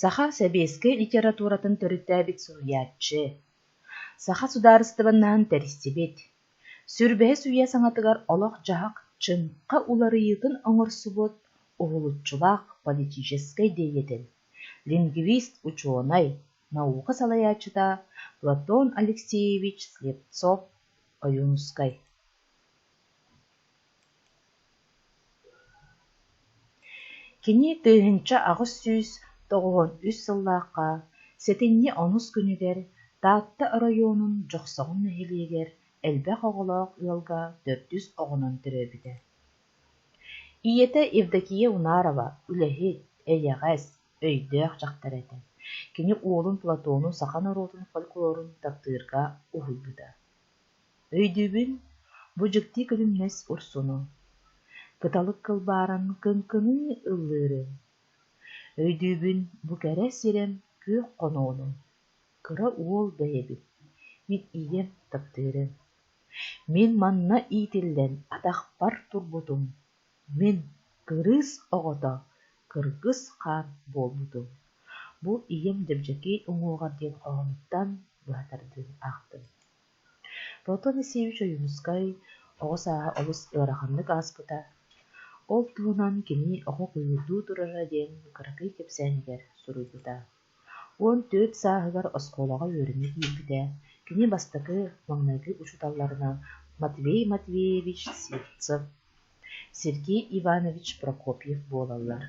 Саха сэбиэскэй литературатын төрүттээбит суруйааччы, саха судаарыстыбаннаһын тэристибит, сүрбэһис үйэ саҥатыгар олох-дьаһах чыҥха уларыйыытын оҥорсубут уһулуччулаах политическай диэйэтэл, лингвист-учуонай, наука салайааччыта Платон Алексеевич Слепцов Ойуунускай Кини тыһыынча аҕыс сүүс тоҕуон үс сыллаахха сэтинньи омус күнүгэр Таатта оройуонун Дьохсоҕон нэһилиэгэр элбэх оҕолоох ыалга төрдүс оҕонон төрөөбүтэ. Ийэтэ Евдокия Унарова үлэһит, эйэҕэс, өйдөөх дьахтар этэ. Кини уолун Платонун саха норуотун фольклорун таптыырга уһуйбута Өйдүүбүн, бу дьикти күлүмнэс урсуну, кыталык кылбааран кыҥкыныы ыллыыры. Өйдүүбүн, бу кэрэ сирим күөх хоноону, кыра уол бэйэбит, мин ийэм таптыырын. Мин манна иитиллэн атахпар турбутум Мин кырыыс оҕото, кыргыс хаар буолбутум, бу ийэм Дьэбдьэкий уҥуоҕар диэн хоһоонуттан быһа тардыан аахтым. Платон Алексеевич Ойуунускай оҕо сааһа олус ыараханнык ааспыта, ол туһунан кини оҕо куйуурдуу турара диэн кыракый кэпсээнигэр суруйбута. Уон түөрт сааһыгар оскуолаҕа үөрэнэ киирбитэ, кини бастакы маҥнайгы учууталларынан Матвей Матвеевич Сивцев, Сергей Иванович Прокопьев буолаллар.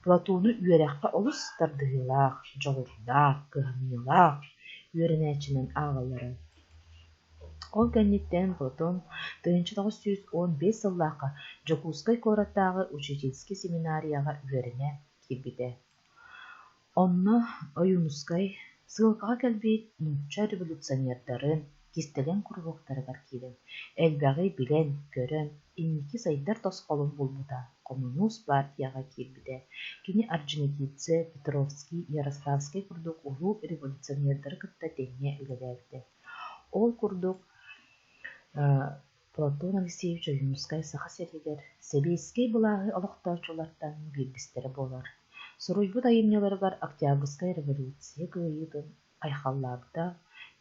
Платону үөрэххэ олус тардыһыылаах, дьоҕурдаах, кыһамньылаах үөрэнээччинэн ааҕаллара. Ол кэнниттэн Платон тыһыынча тоҕус сүүс уон биэс сыллаахха Дьокуускай куораттааҕы учительский семинарияҕа үөрэнэ киирбитэ. Онно Ойуунускай сыылкаҕа кэлбит нуучча революционердарын кистэлэҥ куруһуоктарыгар киирэн, элбэҕи билэн, көрөн, инники сайдар тосхолун булбута, хомунуус партияҕа киирбитэ, кини орджоникидзе, Петровский, Ярославскай курдук улуу революционердары кытта тэҥҥэ үлэлээбитэ. Ол курдук Платон Алексеевич Ойуунускай Саха сиригэр сэбиэскэй былааһы олохтооччулартан биирдистэрэ буолар. Суруйбут айымньыларыгар Октябрьскай революция кыайыытын айхаллаабыта,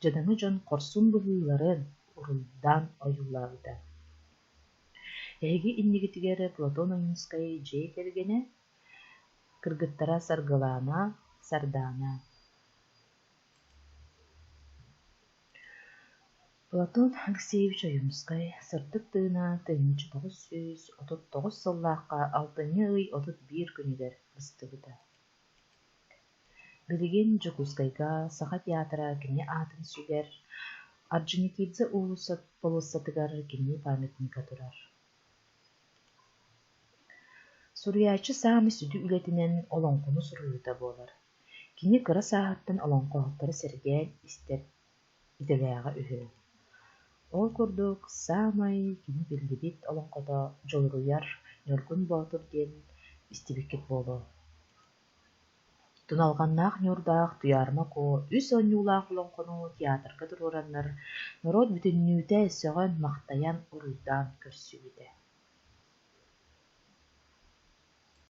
дьадаҥы дьон хорсун быһыыларын уруйдаан ойуулаабыта. Эһиги иннигитигэр Платон Ойуунскай дьиэ кэргэнэ, кыргыттара Саргылаана, Сардаана Платон Алексеевич Ойуунускай сырдык тыынан тыһыынча тоҕус сүүс отут тоҕус сыллаахха алтынньы ый отут биир күнүгэр быстыбыта. Билигин Дьокуускайга саха театра кини аатын сүгэр, Орджоникидзе уулуссатыгар кини памятника турар. Суруйааччы саамай сүдү үлэтинэн олоҥхону суруйуута буолар. Кини кыра сааһыттан олоҥхоһуттары сэргээн истэр, идэлээҕэ үһү. Ол курдук саамай кини биллибит олоҥхото Дьулуруйар Ньургун Боотур диэн истибиккит буолуо. Туналҕаннаах Ньурдаах Туйаарыма Куо үс оонньуулаах олоҥхону театрга туруораннар, норуот бүтүннүүтэ сөҕөн-махтайан, уруйдаан көрсүбүтэ